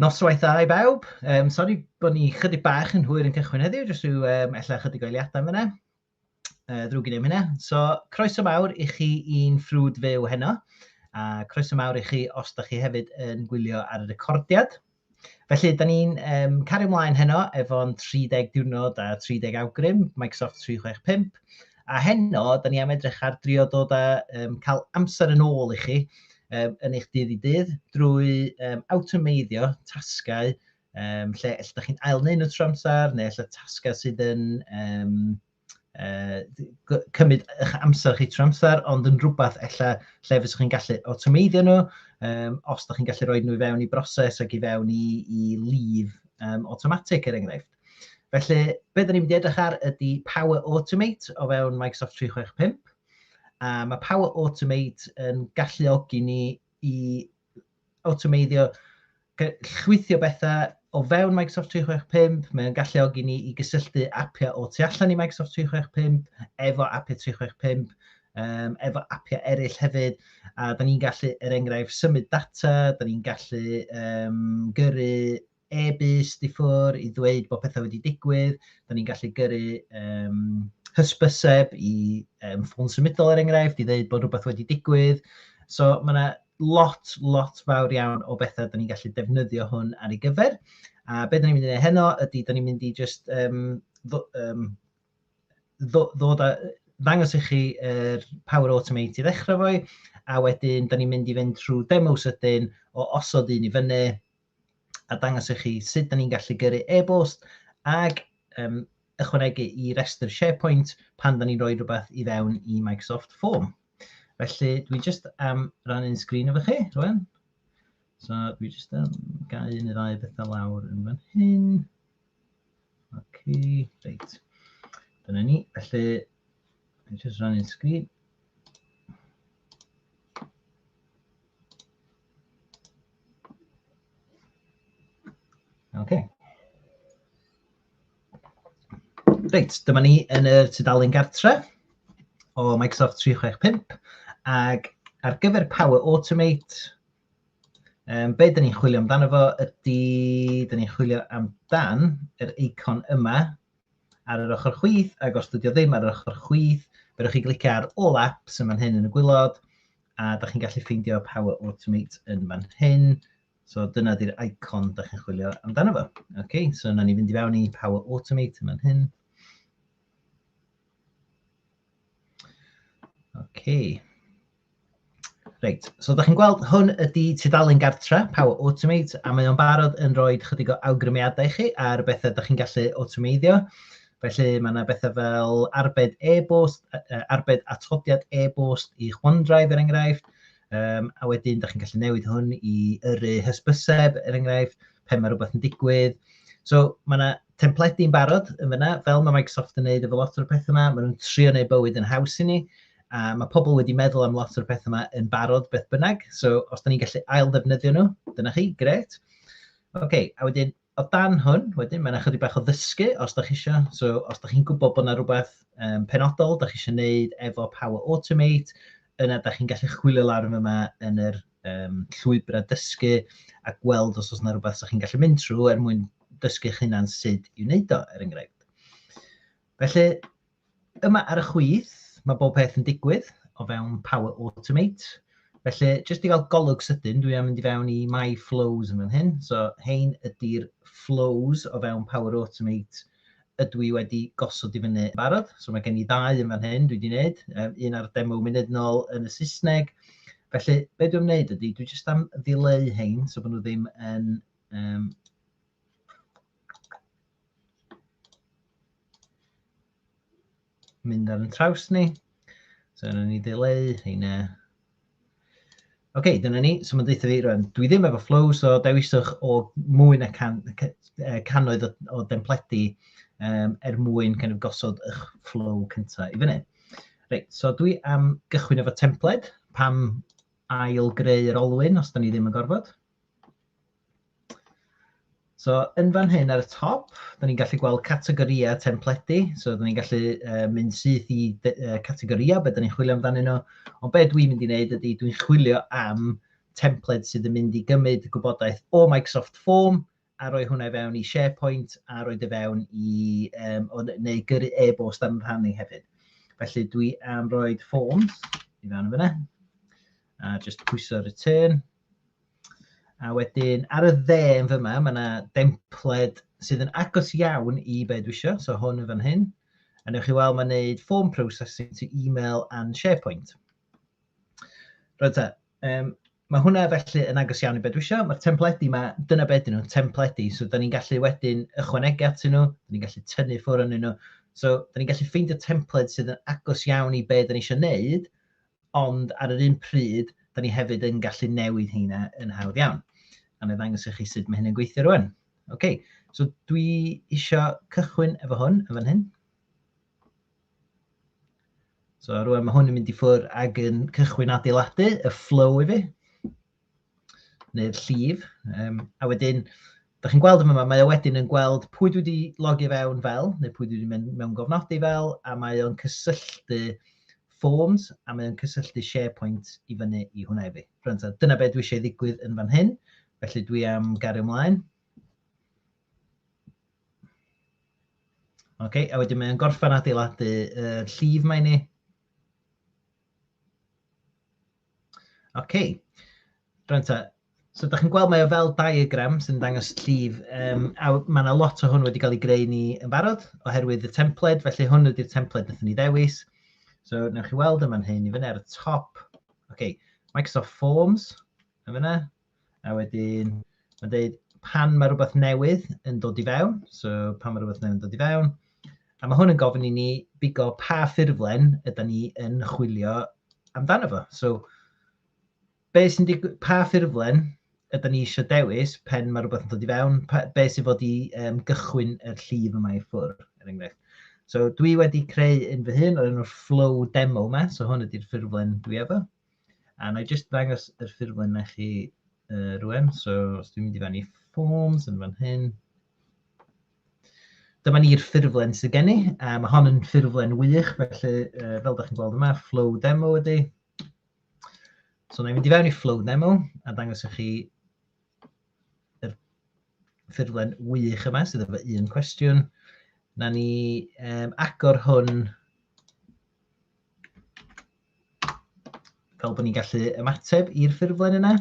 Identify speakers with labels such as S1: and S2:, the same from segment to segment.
S1: Noswaith dda i bawb. Um, sori bod ni chydig bach yn hwyr yn cychwyn heddiw, jyst rhyw um, ella chydig o eiliadau fyna. Uh, ddrwg i ddim hynna. So, croeso mawr i chi i'n ffrwd fyw heno, a croeso mawr i chi os da chi hefyd yn gwylio ar y recordiad. Felly, da ni'n um, cario ymlaen heno efo'n 30 diwrnod a 30 awgrym, Microsoft 365. A heno, da ni am edrych ar drio dod a um, cael amser yn ôl i chi um, yn eich dydd i dydd drwy um, awtomeiddio tasgau um, lle lle da chi'n ail wneud nhw tro amser neu lle tasgau sydd yn um, yy cymryd eich amser chi trwy amser, ond yn rhywbeth ella lle fyddwch chi'n gallu awtomeiddio nhw, um, os ydych chi'n gallu rhoi nhw i fewn i broses ac i fewn i, i lif um, automatic er enghraifft. Felly, be dyn ni'n mynd i edrych ar ydy Power Automate o fewn Microsoft 365. A mae Power Automate yn galluogi ni i awtomeiddio, llwythio bethau o fewn Microsoft 365, mae'n galluogi ni i gysylltu apiau o tu allan i Microsoft 365 efo apiau 365, um, efo apiau eraill hefyd, a da ni'n gallu, er enghraifft, symud data, da ni'n gallu um, gyrru e-byst i ffwr i ddweud bod pethau wedi digwydd, da ni'n gallu gyrru um, hysbyseb i um, ffôn symudol er enghraifft i ddweud bod rhywbeth wedi digwydd. So mae yna lot, lot fawr iawn o bethau da ni'n gallu defnyddio hwn ar ei gyfer. A beth da ni'n mynd i wneud heno ydy, da ni'n mynd i just um, ddo, um, ddo, ddod a, ddangos i chi er Power Automate i ddechrau fo'i, a wedyn da ni'n mynd i fynd trwy demo sydyn o osod un i fyny, a dangos i chi sut da ni'n gallu gyrru e-bost ag um, ychwanegu i restr SharePoint pan da ni'n rhoi rhywbeth i fewn i Microsoft Form. Felly, dwi jyst am ran un sgrin efo chi, rwan. So, dwi jyst am gael un neu ddau bethau lawr yn fan hyn. Ok, reit. Dyna ni. Felly, dwi'n just rannu'n sgrin. Ok. Reit, dyma ni yn y tudalen gartre o Microsoft 365 ac ar gyfer Power Automate, Um, be dyn ni'n chwilio amdano fo ydy, dyn ni'n chwilio amdan yr eicon yma ar yr ochr chwith, ac os dydio ddim ar yr ochr chwith, fe chi glicio ar All Apps yn fan hyn yn y gwylod, a da chi'n gallu ffeindio Power Automate yn fan hyn. So dyna di'r icon da chi'n chwilio amdano fo. Okay, so yna ni fynd i fewn i Power Automate yn fan hyn. Okay. Reit, so da chi'n gweld hwn ydy tudalen gartre Power Automate a mae o'n barod yn rhoi chydig o awgrymiadau i chi ar bethau da chi'n gallu awtomeiddio. Felly mae yna bethau fel arbed e-bost, arbed atodiad e-bost i OneDrive er enghraifft, um, a wedyn da chi'n gallu newid hwn i yrru hysbyseb er enghraifft, pen mae rhywbeth yn digwydd. So mae yna templedi yn barod yn fyna, fel mae Microsoft yn neud efo lot o'r peth yma, maen nhw'n trio neud bywyd yn haws i ni, a mae pobl wedi meddwl am lot o'r peth yma yn barod beth bynnag, so os da ni'n gallu ail ddefnyddio nhw, dyna chi, gret. Oce, okay, a wedyn o dan hwn, wedyn, mae'n ychydig bach o ddysgu os da chi eisiau. So, os da chi'n gwybod bod yna rhywbeth um, penodol da chi eisiau gwneud efo Power Automate, yna da chi'n gallu chwilio lawr yma yn yr um, llwybrau dysgu a gweld os oes yna rhywbeth sy'ch chi'n gallu mynd trwy er mwyn dysgu'ch hunan sut i wneud o, er enghraifft. Felly, yma ar y chwith, mae bob peth yn digwydd o fewn Power Automate. Felly, jyst i gael golwg sydyn, dwi am mynd i fewn i My Flows yn fan hyn. So, hein ydy'r flows o fewn Power Automate ydw i wedi gosod i fyny yn barod. So mae gen i ddau yn fan hyn dwi wedi gwneud, um, un ar demo munud nôl yn y Saesneg. Felly, be dwi'n gwneud ydy, dwi jyst am ddileu hein, so bod nhw ddim yn... Um, mynd ar yn traws ni. So yna ni ddileu heina. Oce, okay, dyna ni. So mae'n deutha fi rwan, dwi ddim efo flow, so dewiswch o mwy na can, cannoedd o, o dempledi um, er mwyn kind of, gosod eich flow cyntaf i fyny. Reit, so dwi am gychwyn efo templed, pam ail greu yr olwyn os da ni ddim yn gorfod. So yn fan hyn ar y top, da ni'n gallu gweld categorïau templedi. So da ni'n gallu uh, mynd syth i uh, categorïau, beth da ni'n chwilio amdanyn nhw. Ond beth dwi'n mynd i wneud ydy dwi'n chwilio am templed sydd yn mynd i gymryd gwybodaeth o Microsoft Form a roi hwnna i fewn i SharePoint a roi dy e fewn i, um, o, neu gyrru e-bost am rhannu hefyd. Felly dwi am roi forms i fewn yn fyna. A just pwyso return. A wedyn ar y dde yn fyma, mae yna dempled sydd yn agos iawn i be dwi eisiau, so hwn yn fan hyn. A newch chi weld mae'n gwneud form processing to email and SharePoint. Rwy'n ta, um, mae hwnna felly yn agos iawn i be dwi eisiau. Mae'r templedi yma, dyna beth dyn nhw'n templedi, so da ni'n gallu wedyn ychwanegu at nhw, da ni'n gallu tynnu ffwrdd yn nhw. So, da ni'n gallu ffeindio templed sydd yn agos iawn i be da ni eisiau gwneud, ond ar yr un pryd, da ni hefyd yn gallu newid heina yn hawdd iawn. A na ddangos i chi sut mae hyn yn gweithio rwan. OK, so dwi isio cychwyn efo hwn yn fan hyn. So rwan mae hwn yn mynd i ffwrdd ag yn cychwyn adeiladu y flow i fi. neu'r llif, um, a wedyn, da chi'n gweld yma, mae o wedyn yn gweld pwy dwi wedi logi fewn fel, neu pwy dwi wedi mynd mewn gofnodi fel, a mae o'n cysylltu Forms, a mae o'n cysylltu SharePoint i fyny i hwnna i fi. Rwy'n dyna beth dwi eisiau ddigwydd yn fan hyn, felly dwi am gario ymlaen. Oce, okay, a wedyn mae'n gorffan adeiladu y uh, llif mae ni. OK. Rwan ta, so da chi'n gweld mae o fel diagram sy'n dangos llif, um, a mae yna lot o hwn wedi cael ei greu ni yn barod oherwydd y templed, felly hwn ydy'r templed nath ni ddewis. So, newch chi weld yma'n hyn i fyny ar y top. OK, Microsoft Forms, yn fyna, A wedyn, mae'n dweud pan mae rhywbeth newydd yn dod i fewn, so pan mae rhywbeth newydd yn dod i fewn, a mae hwn yn gofyn i ni bigo pa ffurflen ydy ni yn chwilio amdano fo. So, be sy'n digwydd, pa ffurflen ydy ni eisiau dewis pen mae rhywbeth yn dod i fewn, pa, be sy'n fod i um, gychwyn yr llif yma i ffwrdd, er enghraifft. So, dwi wedi creu un fy hun o'r enw'r flow demo yma, so hwn ydy'r ffurflen dwi efo. A na i jyst ddangos yr ffurflen i chi uh, rwan. So, os dwi'n mynd i fan i forms yn fan hyn. Dyma ni'r ffurflen sydd gen i. Uh, mae hon yn ffurflen wych, felly uh, fel ydych chi'n gweld yma, flow demo ydy. So, na i mynd i fewn i flow demo a dangos i chi yr ffurflen wych yma sydd efo un cwestiwn. Na ni um, agor hwn Fel bod ni'n gallu ymateb i'r ffurflen yna.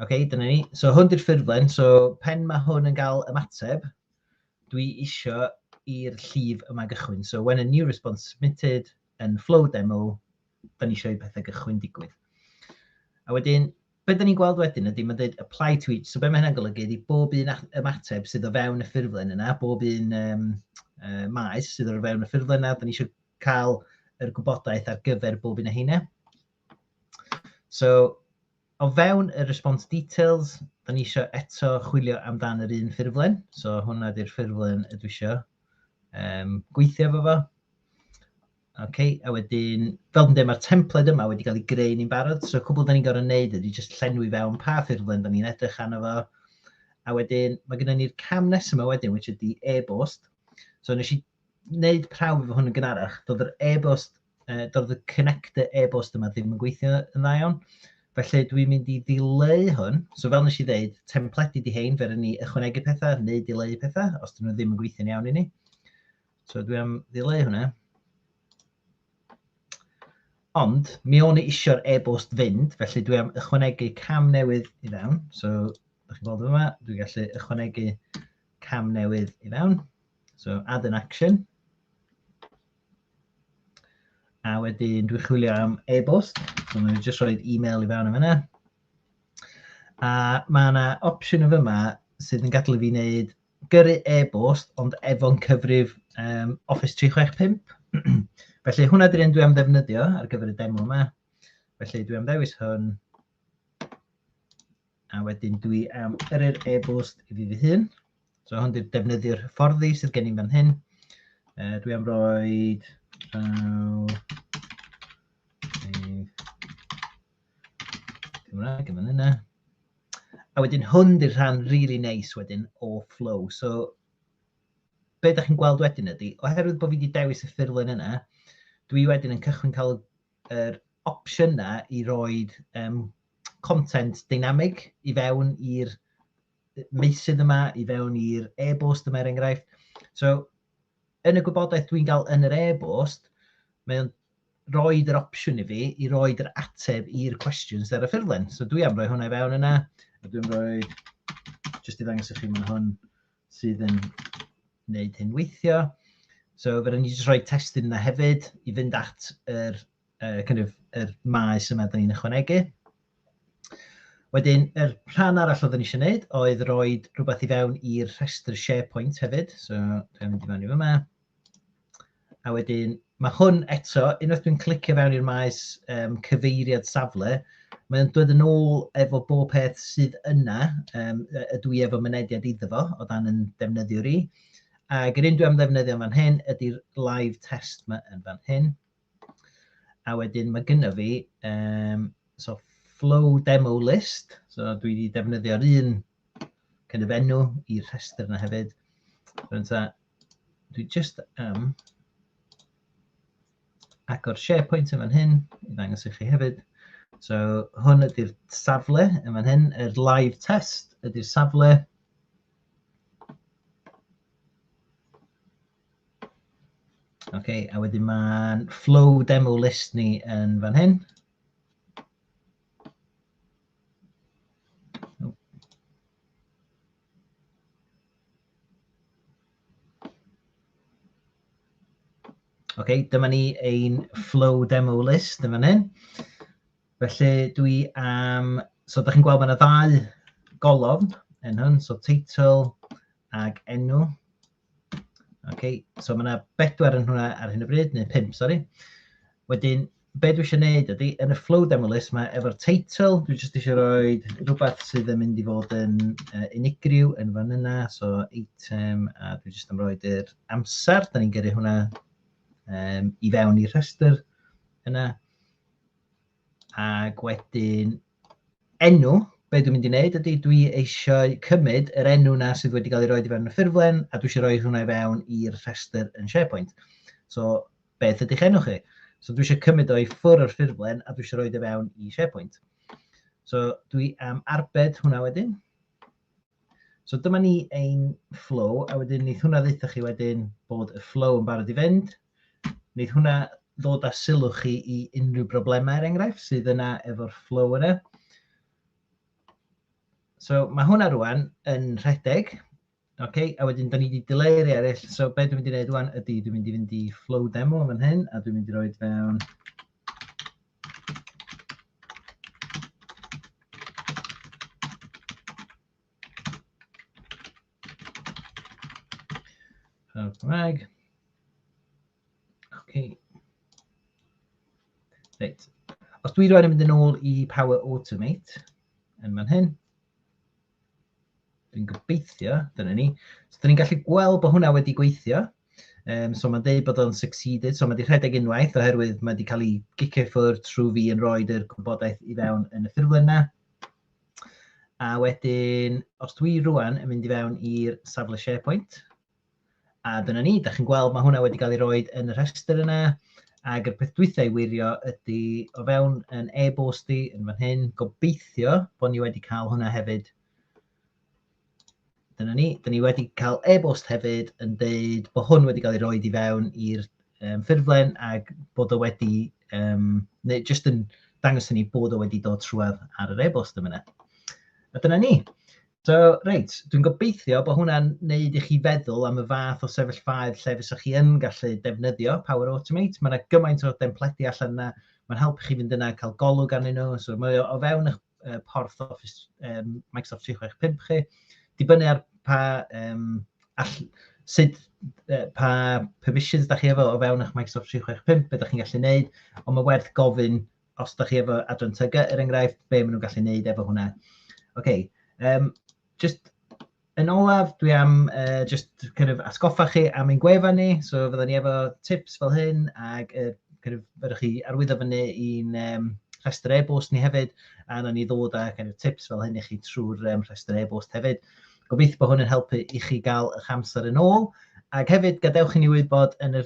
S1: OK, dyna ni. So hwn di'r ffurflen, so pen mae hwn yn cael ymateb, dwi eisiau i'r llif yma gychwyn. So when a new response submitted yn flow demo, da ni eisiau i pethau gychwyn digwydd. A wedyn, Be dan ni'n gweld wedyn ydy mae'n dweud apply to each, so be mae hynna'n golygu ydy bob un ymateb sydd o fewn y ffurflen yna, bob un um, uh, maes sydd o fewn y ffurflen yna, da ni eisiau cael yr gwybodaeth ar gyfer bob un o heine. So, o fewn y response details, da ni eisiau eto chwilio amdan yr un ffurflen, so hwnna ydy'r ffurflen y dwi eisiau um, gweithio efo fo. Ok, a wedyn, fel dwi'n dweud, mae'r templed yma wedi cael ei greu ni'n barod, so cwbl da ni'n gorau wneud ydy jyst llenwi fewn pa ffurflen da ni'n edrych arno fo, a wedyn mae gennym ni'r cam nesaf yma wedyn, which ydy e-bost. So nes i wneud prawf efo hwn yn gynharach, doedd yr e-bost, uh, doedd y connector e-bost yma ddim yn gweithio yn dda iawn. Felly dwi'n mynd i ddileu hwn. So fel nes i ddeud, templedi di hein, fer ni ychwanegu pethau, neu dileu pethau, os dyn nhw ddim yn gweithio'n iawn i ni. So dwi am ddileu hwnna. Ond, mi o'n i eisiau'r e-bost fynd, felly dwi am ychwanegu cam newydd i fewn. So, ydych chi'n gweld yma, dwi'n gallu ychwanegu cam newydd i fewn. So, add an action. A wedyn dwi'n chwilio am e-bost. So, dwi'n just rhoi e-mail i fewn am yna. A mae yna opsiwn o fyma sydd yn gadael i fi wneud gyrru e-bost ond efo'n cyfrif um, Office 365. Felly hwnna dy'r un dwi am ddefnyddio ar gyfer y demo yma. Felly dwi am ddewis hwn. A wedyn dwi am yrru'r e-bost i fi fy hun. So hwn dy'r defnyddio'r fforddi sydd gen i'n fan hyn. Uh, dwi am roi... Uh, Cymraeg yn fan hynna. A wedyn hwn di'r rhan rili really neis wedyn o flow. So, be da chi'n gweld wedyn ydy, oherwydd bod fi wedi dewis y ffurlen yna, dwi wedyn yn cychwyn cael yr opsiynau i roi um, content dynamig i fewn i'r meysydd yma, i fewn i'r e-bost yma er enghraifft. So, yn y gwybodaeth dwi'n gael yn yr e-bost, mae o'n roid yr opsiwn i fi i roid yr ateb i'r cwestiwn sydd ar y ffurflen. So dwi am roi hwnna i fewn yna, a dwi'n rhoi, jyst i ddangos i chi mae'n hwn sydd yn gwneud hyn weithio. So fe rydyn ni jyst rhoi testyn yna hefyd i fynd at yr, uh, kind of, yr maes yma dyn ni'n ychwanegu. Wedyn, yr rhan arall oedden ni eisiau gwneud oedd roi rhywbeth i fewn i'r rhestr SharePoint hefyd. So, dwi'n mynd i fewn i fyma. A wedyn, mae hwn eto, unwaith dwi'n clicio fewn i'r maes um, cyfeiriad safle, mae'n dod yn ôl efo bob peth sydd yna, um, y dwi efo mynediad iddo fo, o dan yn defnyddiwr i. Ac yr un dwi am ddefnyddio fan hyn ydy'r live test yma yn fan hyn. A wedyn mae gyda fi um, so flow demo list, so dwi wedi defnyddio'r un kind of enw i'r rhestr yna hefyd. Rwy'n ta, dwi just am um, agor SharePoint yn fan hyn, i ddangos i chi hefyd. So hwn ydy'r safle yn fan hyn, yr live test ydy'r safle. OK, a wedyn mae'n flow demo list ni yn fan hyn. okay, dyma ni ein flow demo list yn fan hyn. Felly dwi am, um, so da chi'n gweld mae yna ddau golofn yn hyn, so title ag enw. Ok, so mae yna bedwar yn hwnna ar hyn o bryd, neu pump, sori. Wedyn, be dwi eisiau gwneud ydy, yn y flow demo list, mae efo'r teitl, dwi jyst eisiau rhoi rhywbeth sydd yn mynd i fod yn uh, unigryw yn fan yna, so item, a dwi jyst yn rhoi yr amser, da ni'n gyrru hwnna um, i fewn i'r rhestr yna. Ac wedyn enw, be dwi'n mynd i wneud ydy dwi eisiau cymryd yr enw na sydd wedi cael ei roi i fewn y ffurflen a dwi eisiau rhoi hwnna i fewn i'r rhestr yn SharePoint. So, beth ydych enw chi? So dwi eisiau cymryd o'i ffwr o'r ffurflen a dwi eisiau rhoi i fewn i SharePoint. So dwi am arbed hwnna wedyn. So dyma ni ein flow, a wedyn wneud hwnna ddeitha chi wedyn bod y flow yn barod i fynd. Wneud hwnna ddod â sylw chi i unrhyw broblemau, er enghraifft, sydd yna efo'r flow yna. So mae hwnna rwan yn rhedeg, okay? a wedyn da ni wedi dileu rei eraill. So be dwi'n mynd i wneud rwan ydy, dwi'n mynd i fynd i flow demo fan hyn, a dwi'n mynd i roed fewn Hawdd Cymraeg. OK. Reit. Os dwi rhaid yn mynd yn ôl i Power Automate yn fan hyn, Dwi'n gobeithio, dyna ni. So, dyn ni'n gallu gweld bod hwnna wedi gweithio. Um, so mae'n dweud bod o'n succeeded, so mae wedi rhedeg unwaith oherwydd mae wedi cael ei gicio ffwrdd trwy fi yn rhoi yr gwybodaeth i fewn yn y ffurflen yna. A wedyn, os dwi rwan yn mynd i fewn i'r safle SharePoint, A dyna ni, da chi'n gweld mae hwnna wedi cael ei roed yn y rhestr yna. Ac y peth dwytha i wirio ydy o fewn yn e-bost i yn fan hyn, gobeithio bod ni wedi cael hwnna hefyd dyna ni. Dyna ni wedi cael e-bost hefyd yn deud bod hwn wedi cael ei roed i fewn i'r um, ffurflen ac bod o wedi, um, neu jyst yn dangos hynny bod o wedi dod trwad ar yr e-bost yma. A dyna ni. So, reit, dwi'n gobeithio bod hwnna'n neud i chi feddwl am y fath o sefyllfaoedd lle fysa chi yn gallu defnyddio Power Automate. Mae yna gymaint o dempledi allan yna, mae'n helpu chi fynd yna a cael golwg arnyn nhw, so mae o fewn eich uh, porth Office um, Microsoft 365 chi. Dibynnu ar pa, um, all, sut, uh, pa permissions da chi efo o fewn eich Microsoft 365, beth da chi'n gallu neud, ond mae werth gofyn os da chi efo adran tyga, er enghraifft, be maen nhw'n gallu neud efo hwnna. OK, um, just yn olaf, dwi am uh, just kind of atgoffa chi am ein gwefan ni, so fydden ni efo tips fel hyn, ac uh, kind of, fydden chi arwyddo fyny i'n um, rhestr e-bost ni hefyd, a na ni ddod â kind of, tips fel hyn i chi trwy'r um, rhestr e-bost hefyd. Gobeithio bod hwn yn helpu i chi gael eich amser yn ôl, ac hefyd gadewch i ni wybod yn y